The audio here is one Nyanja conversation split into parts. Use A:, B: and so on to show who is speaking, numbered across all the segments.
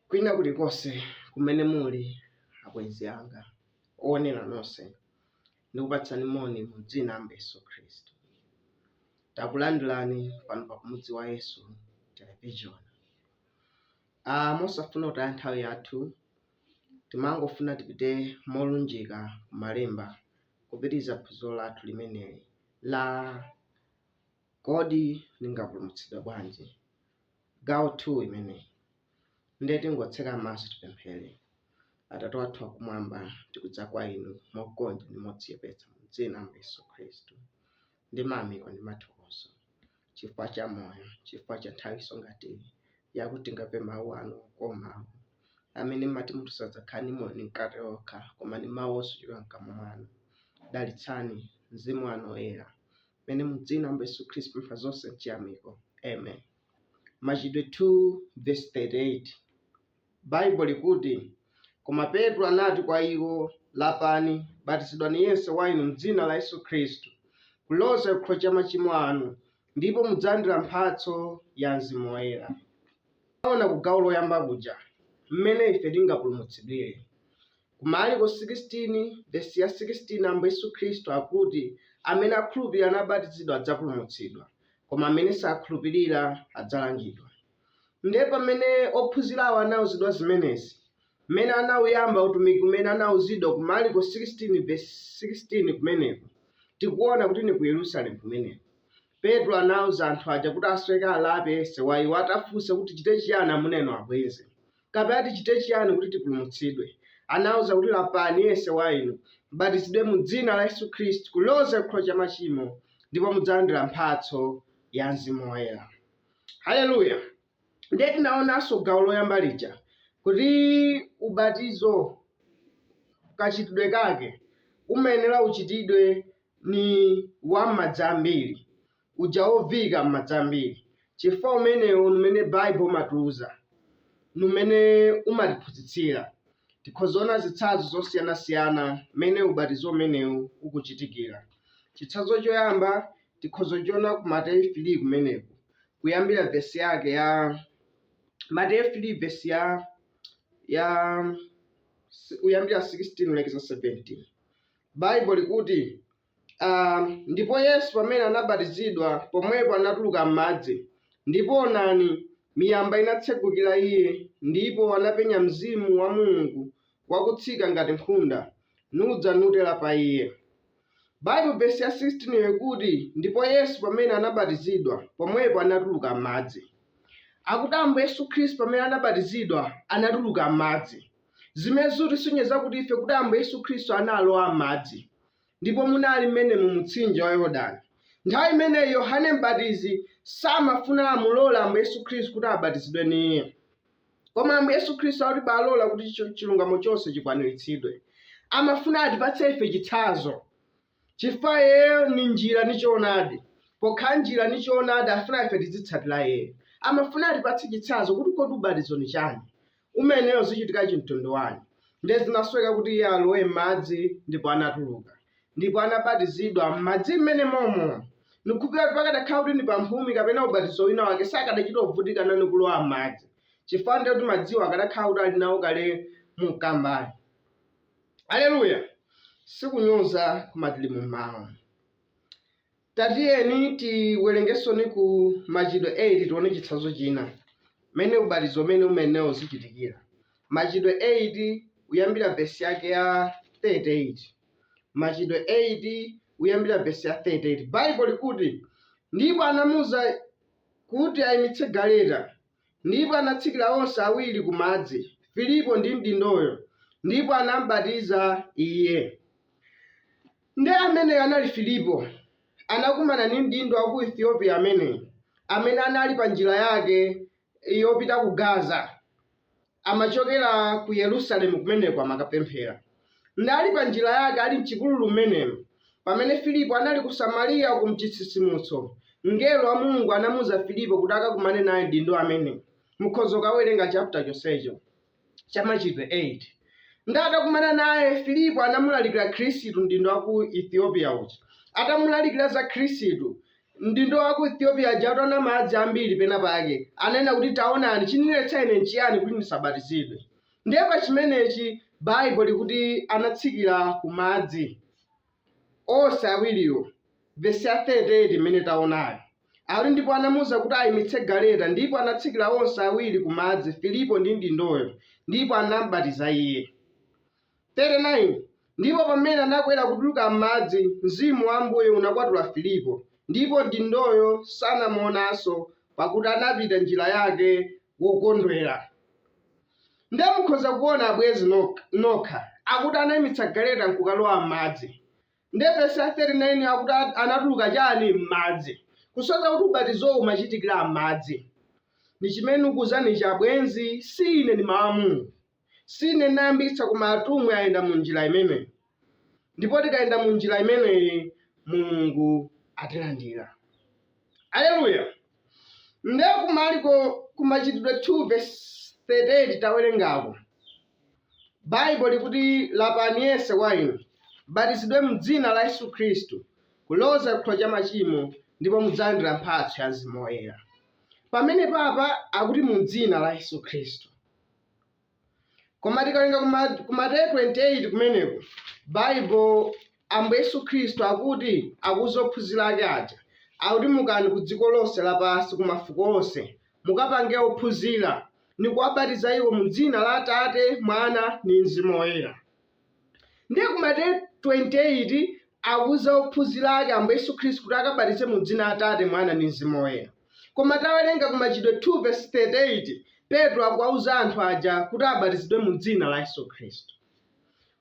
A: Kwina kulikonse kumene muli, abwenzi anga, oonera nonse, ndikupatsani moni mu dzina la Ambuye Yesu Khristu. Takulandirani pano pa Kumudzi wa Yesu Television. Ah, mosafuna kutaya nthawi yathu, timangofuna tipite molunjika ku Malemba kupitiriza phunziro lathu limeneli la Kodi ndingapulumutsidwe bwanji? Gawo 2 imeneyi ndiye tingotseka maso tipemphere. Atate wathu wakumwamba, tikudza kwa inu mogonja ndi modzichepetsa mu dzina Ambuye Yesu Khristu ndi mayamiko ndi mathokozo chifukwa cha moyo, chifukwa cha nthawinso ngati iyi yakuti tikamve mawu anu okoma mawu amene mmati munthu sadzakhala ndi moyo ndi mkate okha koma ndi mawu onse ochokera mkamwa mwanu. Dalitsani mzimu wanu woyera mene mudzina Ambuye Yesu Khristu tapempha zonse mchiyamiko. Amen. Machitidwe 2 verse 38 Baibo likuti koma Petro anati kwa iwo, lapani, batizidwani yense wa inu mdzina la Yesu Khristu kuloza chikhululukiro cha machimo anu, ndipo mudzalandira mphatso ya Mzimu Woyera. Tinaona ku gawo loyamba kuja mmene ife tingapulumutsidwire. Ku Marko 16, vesi ya 16, Ambuye Yesu Khristu akuti, Amene akhulupirira nabatizidwa adzapulumutsidwa, koma amene sakhulupirira adzalangidwa. Ndiye pamene ophunzirawo anauzidwa zimenezi, mmene anauyamba utumiki umene anauzidwa ku Marko 16 vesi 16 kumeneko, tikuona kuti ni ku Yerusalemu kumeneko. Petro anauza anthu aja kuti asweke alape, yense wa iwo atafunsa kuti, Tichite chiyani amuna inu abwenzi? Kapena tichite chiyani kuti tipulumutsidwe? Anawauza kuti, Lapani, yense wa inu, m'batizidwe mu dzina la Yesu Khristu kuloza chikhululukiro cha machimo, ndipo mudzalandira mphatso ya Mzimu Woyera. Haleluya! Ndiye tinaonanso gawo loyamba lija kuti ubatizo kachitidwe kake umayenera uchitidwe ni wa m'madzi ambiri. uja woviika m'madzi ambiri, chifukwa umenewo ni mmene Baibo imatiuza, ni mmene imatiphunzitsira. Tikhoza kuona zitsanzo zosiyana-siyana mmene ubatizo umenewu ukuchitikira. Chitsanzo choyamba tikhoza kuchiona ku Mateyu 3 kumeneku, kuyambira vesi yake ya Mateyu 3 vesi ya ya kuyambira 16 kulekeza 17. Baibo likuti, Um, ndipo Yesu pamene anabatizidwa pomwepo anatuluka m'madzi, ndipo onani, miyamba inatsegukira iye, ndipo anapenya mzimu wa Mulungu wakutsika ngati nkhunda, nudza nutera pa iye. Baibulo vesi ya 16 yo ikuti, ndipo Yesu pamene anabatizidwa pomwepo anatuluka m'madzi. Akuti Ambuye Yesu Khristu pamene anabatizidwa anatuluka m'madzi. Zimene zikutisonyeza kuti ife kuti Ambuye Yesu Khristu analowa m'madzi. ndipo munali mmene mu mtsinje wa Yordani. Nthawi imeneyi Yohane Mbatizi samafuna amulole Ambuye Yesu Khristu kuti abatizidwe ni iye. Koma Ambuye Yesu Khristu akuti balola kuti chilungamo chonse chikwaniritsidwe. Amafuna atipatse ife chitsanzo. Chifukwa iyeyo ni njira ndi choonadi. Pokhala njira ndi choonadi afuna ife tizitsatira iyeyo. Amafuna atipatse chitsanzo kuti kodi ubatizo ni chani? umenewo uzichitika chimtundu wani, ndiye zinasweka kuti iye alowe m'madzi ndipo anatuluka, ndipo anabatizidwa m'madzi mmene momo. Ndikukhulupirira kuti pakadakhala kuti ndi pamphumi kapena ubatizo wina wake sakadachita kuvutika ndi kulowa m'madzi, chifukwa ndiye kuti madziwo akadakhala kuti ali nawo kale mu mkambani. Aleluya! Sikunyoza, koma tili mu mawu. Tatiyeni tiwerengensoni ku Machitidwe 8 tione chitsanzo china, mmene ubatizo umene umayenera uzichitikira. Machitidwe 8, kuyambira vesi yake ya 38. Machitidwe 8, kuyambira vesi ya 38. Baibulo likuti, Ndipo anamuuza kuti ayimitse galeta, ndipo anatsikira onse awiri ku madzi, Filipo ndi mdindoyo, ndipo anam'batiza iye. Nde ameneyo anali Filipo. Anakumana ndi mdindo wa ku Ethiopia ameneyu, amene anali pa njira yake yopita ku Gaza. Amachokera ku Yerusalemu kumeneko, amakapemphera. Nde ali pa njira yake, ali m'chipululu mmenemo, pamene Filipo anali ku Samariya uku m'chitsitsimutso, mngelo wa Mulungu anamuuza Filipo kuti akakumane naye mdindo ameneyu. Mukhoza kukawerenga chaputa chonsecho. cha Machitidwe 8. Nde atakumana naye, Filipo anamulalikira Khristu mdindo wa ku Ethiopia uja. Atamulalikira za Khristu, mdindo wa ku Ethiopia uja ataona madzi ambiri pena pake, ananena kuti taonani, chindiletsa ine nchiyani kuti ndisabatizidwe? Ndiye pa chimenechi Baibulo likuti anatsikira ku madzi. onse awiriwo, vesi ya 38 imene taonayo, ati ndipo anamuuza kuti ayimitse galeta ndipo anatsikira onse awiri ku madzi, Filipo ndi mdindoyo, ndipo anam'batiza iye. 39 ndipo pamene anakwera kutuluka m'madzi, Mzimu wa Ambuye unakwatula Filipo, ndipo mdindoyo sanamuonanso, pakuti anapita njira yake wokondwera. Nde mukhoza kuona abwenzi nokha akuti anaimitsa galeta nkukalowa mmadzi nde vesi ya 39 yo akuti anatuluka chani mmadzi kusonyeza kuti ubatizowu umachitikira mmadzi ndichimene ndikukuuzanichi abwenzi siine ndi mau a Mulungu siine ndinayambitsa koma atumwi ayenda munjira imeneyi. ndipo tikayenda mu njira imeneyi mulungu atilandira aleluya nde kumaliko kumachitidwe 2 verse 38 tawerengako baibo likuti lapani yense wa inu abatizidwe mdzina la yesu khristu kuloza chikhululukiro cha machimo ndipo mudzalandira mphatso ya mzimu woyera pamenepapa akuti mu dzina la yesu khristu Koma tikawerenga ku Mateyu 28 kumeneko, Baibo, Ambuye Yesu Khristu akuti akuuza ophunzira ake aja, akuti mukani ku dziko lonse lapansi, kwa mafuko onse, mukapange ophunzira, ni kuwabatiza iwo mu dzina la Atate, Mwana, ni mzimu woyera. Ndiye ku Mateyu 28 akuuza ophunzira ake Ambuye Yesu Khristu kuti akabatize mu dzina la Atate, Mwana ndi Mzimu Woyera. Koma tawerenga ku Machitidwe 2 vesi 38 Petro akuwauza anthu aja kuti abatizidwe mu dzina la Yesu Khristu.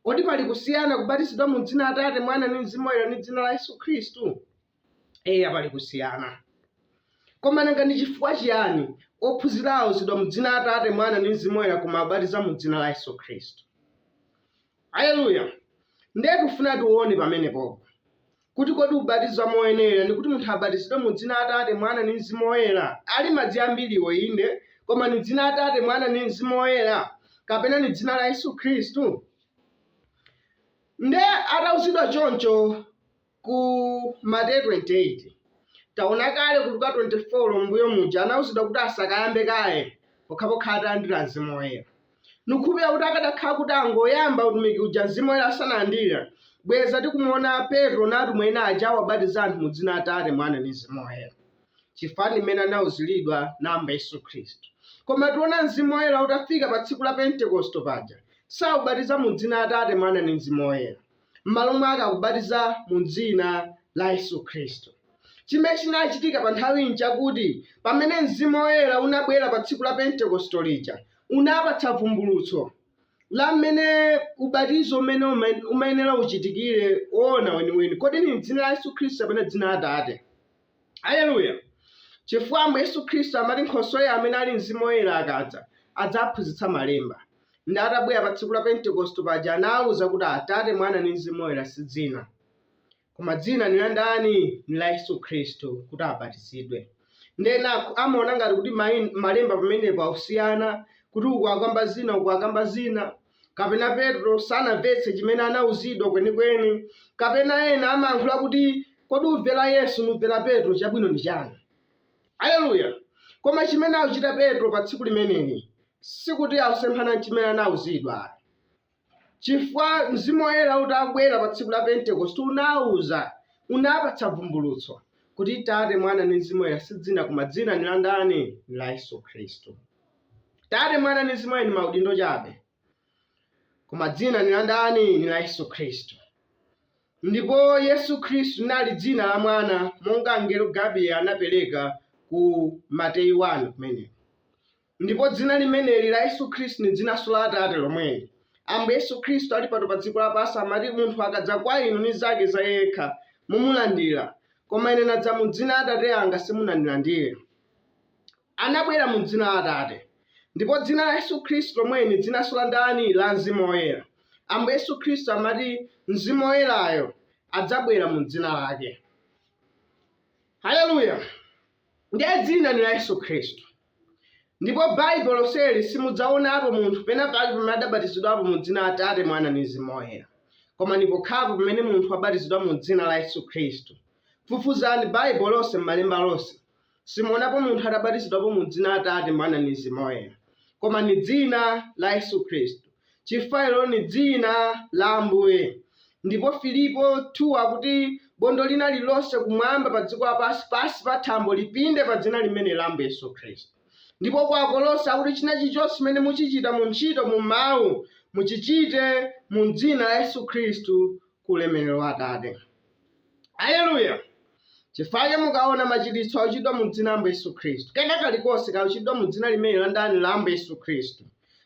A: Kodi pali kusiyana kubatizidwa mu dzina la Atate, Mwana ndi Mzimu Woyera ndi dzina la Yesu Khristu? Eya, pali kusiyana. Koma nanga ndi chifukwa chiyani ophunzira auzidwa mu dzina la Atate, Mwana ndi Mzimu Woyera koma abatiza mu dzina la Yesu Khristu? Aleluya! Ndiye tikufuna tione pamenepopo kuti kodi ubatizo woyenera ndi kuti munthu abatizidwe mu dzina la Atate, Mwana ndi Mzimu Woyera. Ali madzi ambiriwo inde, koma ndi dzina la Atate, Mwana ndi Mzimu Woyera kapena ndi dzina la Yesu Khristu? Ndiye atauzidwa choncho, Ku Mateyu 28 taona kale ku Luka 24 m'mbuyo muja anauzidwa kuti asakayambe kaye pokhapokha atalandira mzimu woyera. Ndikukhulupirira kuti akadakhala kuti angoyamba utumiki uja mzimu woyera asanalandire, bweza tikumuona Petro na atumwi ena aja akuwabatiza anthu mu dzina Atate, Mwana ni mzimu woyera, chifukwa ndi mmene anauzilidwa na Ambuye Yesu Khristu. Koma tiona mzimu woyera utafika pa tsiku la Pentekosto paja sakubatiza mu dzina Atate, Mwana ni mzimu woyera. M'malo mwake akubatiza mu dzina la Yesu Khristu. Chimene chinachitika pa nthawiyi n'chakuti pamene mzimu woyera unabwera pa tsiku la Pentekoste lija, unapatsa vumbulutso la mmene ubatizo umene umayenera uchitikire woona weniweni. Kodi ndi m'dzina la Yesu Khristu kapena dzina la Atate? Aleluya! Chifukwa Ambuye Yesu Khristu amati Nkhosweyo amene ali Mzimu Woyera akadza, adzawaphunzitsa Malemba. Ndiye atabwera pa tsiku la Pentekosto paja anawawuza kuti Atate, Mwana ndi Mzimu Woyera si dzina. Koma dzina ndi la ndani? Ndi la Yesu Khristu kuti abatizidwe. Ndiye enako amaona ngati kuti mwina Malemba pamenepo akusiyana kuti uku akamba zina uku akamba zina. kapena Petro sanamvetse chimene anauzidwa kwenikweni, kapena ena amayankhula kuti, Kodi kumvera Yesu n'kumvera Petro, chabwino ndi chani? Aleluya! Koma chimene akuchita Petro pa tsiku limeneli sikuti akusemphana ndi chimene anauzidwa ayi, chifukwa Mzimu Woyera utabwera pa tsiku la Pentekosti unauza, unawapatsa vumbulutso kuti Tate, Mwana ndi Mzimu Woyera si dzina koma dzina ndi la ndani? Ndi la Yesu Khristu. Tate, Mwana, ndi Mzimu Woyera ndi maudindo chabe, koma Dzina ni la ndani? Ni la Yesu Khristu. Ndipo Yesu Khristu linali dzina la Mwana, monga mngelo Gabrieli anapereka ku Mateyu 1 kumeneko. Ndipo dzina limeneli la Yesu Khristu ni dzinanso la Atate lomweli. Ambuye Yesu Khristu ali pano pa dziko lapansi amati, Munthu akadza kwa inu ni zake za iye yekha, mumulandira, koma ine nadza mu dzina la Atate anga simunandilandira. anabwera mu Dzina la Atate. Ndipo Dzina la Yesu Khristu lomweli, Dzinanso la ndani? La Mzimu Woyera. Ambuye Yesu Khristu amati, Mzimu Woyerayo adzabwera mu Dzina Lake. Haleluya! Ndiye Dzina ndi la Yesu Khristu. Ndipo Baibulo lonseli simudzaonapo munthu pena pake pamene adabatizidwapo mu dzina la Atate, Mwana ndi Mzimu Woyera. Koma ndi pokhapo pamene munthu wabatizidwa mu Dzina la Yesu Khristu. Fufuzani Baibulo lonse m'Malemba monse. Simuonapo munthu atabatizidwapo mu Dzina la Atate, Mwana, ndi Mzimu Woyera, koma ndi Dzina la Yesu Khristu, chifukwa ilo ndi Dzina la Ambuye. Ndipo Afilipi 2 akuti, Bondo lina lirlonse kumwamba, pa dziko lapansi, pansi pa thambo, lipinde pa Dzina limenelo la Ambuye Yesu Khristu. Ndipo ku Akolose akuti, China chilichonse chimene muchichita mu ntchito, mu mawu, muchichite mu Dzina la Yesu Khristu, ku ulemerero wa Atate. Aleluya! Chifukwa mukaona machiritso akuchitidwa mu dzina la Ambuye Yesu Khristu, kena kalikonse kakuchitidwa mu dzina limeneli la ndani? La Ambuye Yesu Khristu.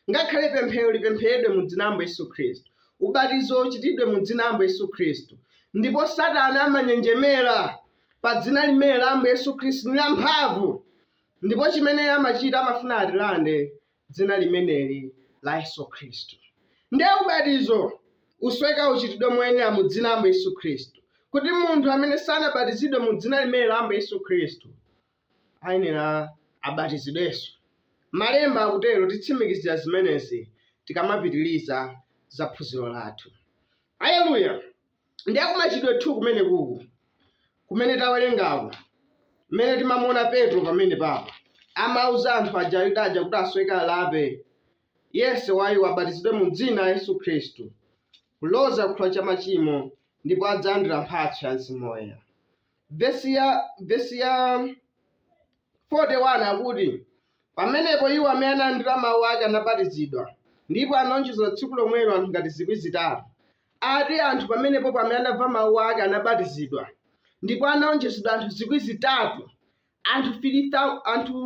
A: Ngakhale pemphero lipempheredwe mu dzina la Ambuye Yesu Khristu, ubatizo uchitidwe mu dzina la Ambuye Yesu Khristu, ndipo Satana amanjenjemera pa dzina limeneli la Ambuye Yesu Khristu ndi lamphamvu, ndipo chimene amachita amafuna atilande dzina limeneli la Yesu Khristu. Ndiye ubatizo ufunika uchitidwe moyenera mu dzina la Ambuye Yesu Khristu, kuti munthu amene sanabatizidwe mu dzina limeneli la Ambuye Yesu Khristu ayenera abatizidwenso. Malemba akutero, titsimikizira zimenezi tikamapitiriza za phunziro lathu. Aleluya! Ndiye ku Machitidwe 2 kumenekuku kumene tawerengako, mmene timamuona Petro pamene papa amauza anthu aja Ayuda aja kuti asoweka alape, yense wa iwo abatizidwe mu dzina la Yesu Khristu kuloza ku chikhululukiro cha machimo, ndipo adzalandira mphatso ya Mzimu Woyera. Vesi ya vesi ya 41 akuti, Pamenepo iwo amene analandira mawu ake anabatizidwa, ndipo anawonjezedwa tsiku lomwelo anthu ngati zikwi zitatu. Ati anthu pamenepopo amene anamva mawu ake anabatizidwa, ndipo anawonjezedwa anthu zikwi zitatu, anthu 3, anthu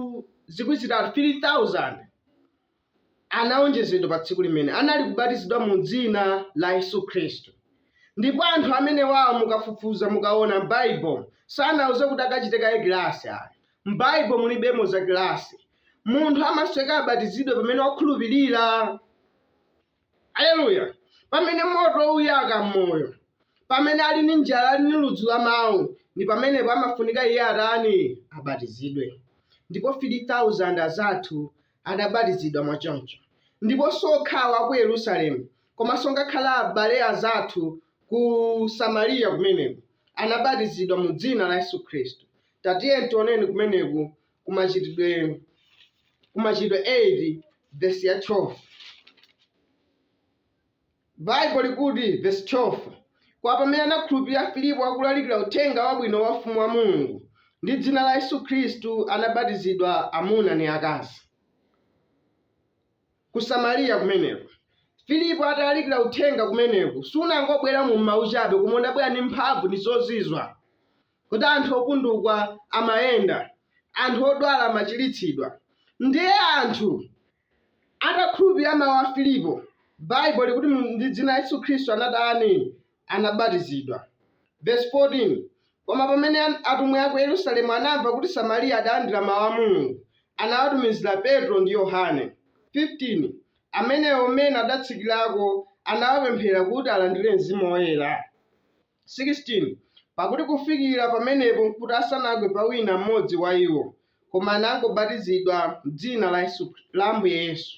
A: zikwi zitatu 3,000. anawonjezedwa pa tsiku limene anali kubatizidwa mu dzina la Yesu Khristu. Ndipo anthu amenewawo mukafufuza mukawona m'Baibulo sanauzidwe kuti akachite kaye kilasi ayi. M'Baibulo mulibemo za kilasi. Munthu amasoweka abatizidwe pamene wakhulupirira. Aleluya! Pamene moto uyaka m'moyo, pamene ali ndi njala ali ndi ludzu la mau, ndi pamenepo amafunika iye atani? Abatizidwe. Ndipo 3,000 aja tu adabatizidwa mwachoncho, ndipo siokhawo aku Yerusalemu komanso ngakhale abale azathu ku Samaliya kumeneko anabatizidwa mu dzina la Yesu Khristu. Tatiyeni tioneni kumeneko ku Machitidwe ku Machitidwe 8 vesi ya 12. Baibulo likuti, vesi 12, Koma pamene anakhulupilila Filipo akulalikila uthenga wabwino wa Ufumu wa Mulungu, ndi dzina la Yesu Khristu anabatizidwa amuna ni akazi. Ku Samariya kumeneko. Filipo atalalikila uthenga kumeneko, sunangobwela mu mau cabe, koma unabwela ni mphamvu ni zozizwa. Kuti anthu opundukwa amayenda, anthu odwala amacilitsidwa, ndi anthu Atakhulupilira mawu a Filipo, Baibulo likuti mu ndi dzina la Yesu Khristu anatani? Anabatizidwa. Verse 14, Koma pamene an atumwi aku Yerusalemu anamva kuti Samariya adalandira mawu a Mulungu, anawatumizira Petro ndi Yohane. 15, Amenewo, mmene adatsikirako, anawapemphera kuti alandire Mzimu Woyera. 16 pakuti kufikira pamenepo nkuti asanagwe pa wina mmodzi wa iwo, koma anangobatizidwa m'dzina la Yesu, la Ambuye Yesu.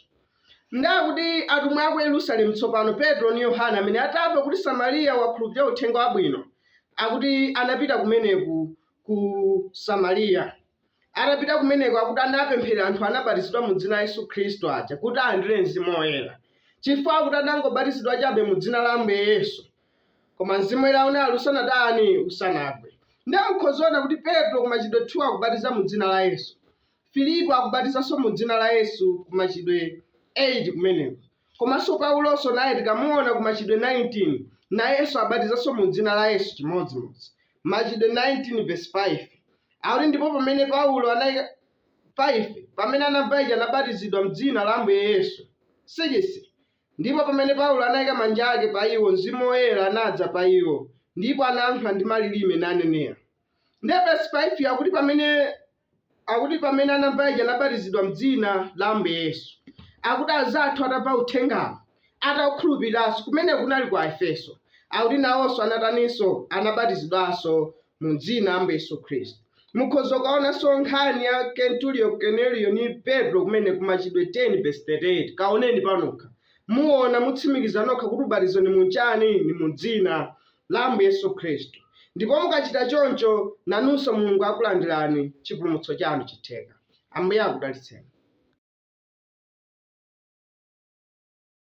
A: Ndiye kuti atumwi a ku Yerusalemu tsopano, Petro ndi Yohane, amene atamva kuti Samariya wakhulupirira uthenga wabwino, akuti anapita kumeneko ku Samariya. Atapita kumeneko akuti anapempherera anthu anabatizidwa mu dzina la Yesu Khristu aja kuti alandire mzimu woyera. Chifukwa akuti anangobatizidwa chabe mu dzina la Ambuye Yesu, Koma mzimu woyera unali usanatani? Usanagwe. Ndiye mukhozaona kuti Petro ku machitidwe 2 akubatiza mu dzina la Yesu. Filipo akubatizanso mu dzina la Yesu ku machitidwe 8 kumeneko. Komanso Paulonso naye tikamuona ku machitidwe 19 nayenso abatizanso mu dzina la Yesu chimodzimodzi. Machitidwe 19 vesi 5 akuti ndipo pamene Paulo anali 5 pamene anamva ichi anabatizidwa m'dzina la Ambuye Yesu. 6 Ndipo pamene Paulo anaika manja ake pa iwo, Mzimu Woyera anadza pa iwo, ndipo anayankhula ndi malilime nanenera. Ndiye vesi 5 akuti pamene akuti pamene anamva ichi anabatizidwa m'dzina la Ambuye Yesu. Akuti anzathu atamva uthengawo ataukhulupiriranso kumeneko kunali kwa Aefeso. Akuti nawonso anataninso anabatizidwanso mu dzina la Ambuye Yesu Khristu. Mukhoza kukaonanso nkhani ya Kenturiyo Koneliyo ni Petro kumeneko ku machitidwe 10 vesi 38 kaoneni panokha muona mutsimikiza nokha kuti ubatizo ni mu chani ni mu dzina la Ambuye Yesu Khristu ndipo mukachita choncho nanunso Mulungu akulandirani chipulumutso chanu chitheka. Ambuye akudalitseni.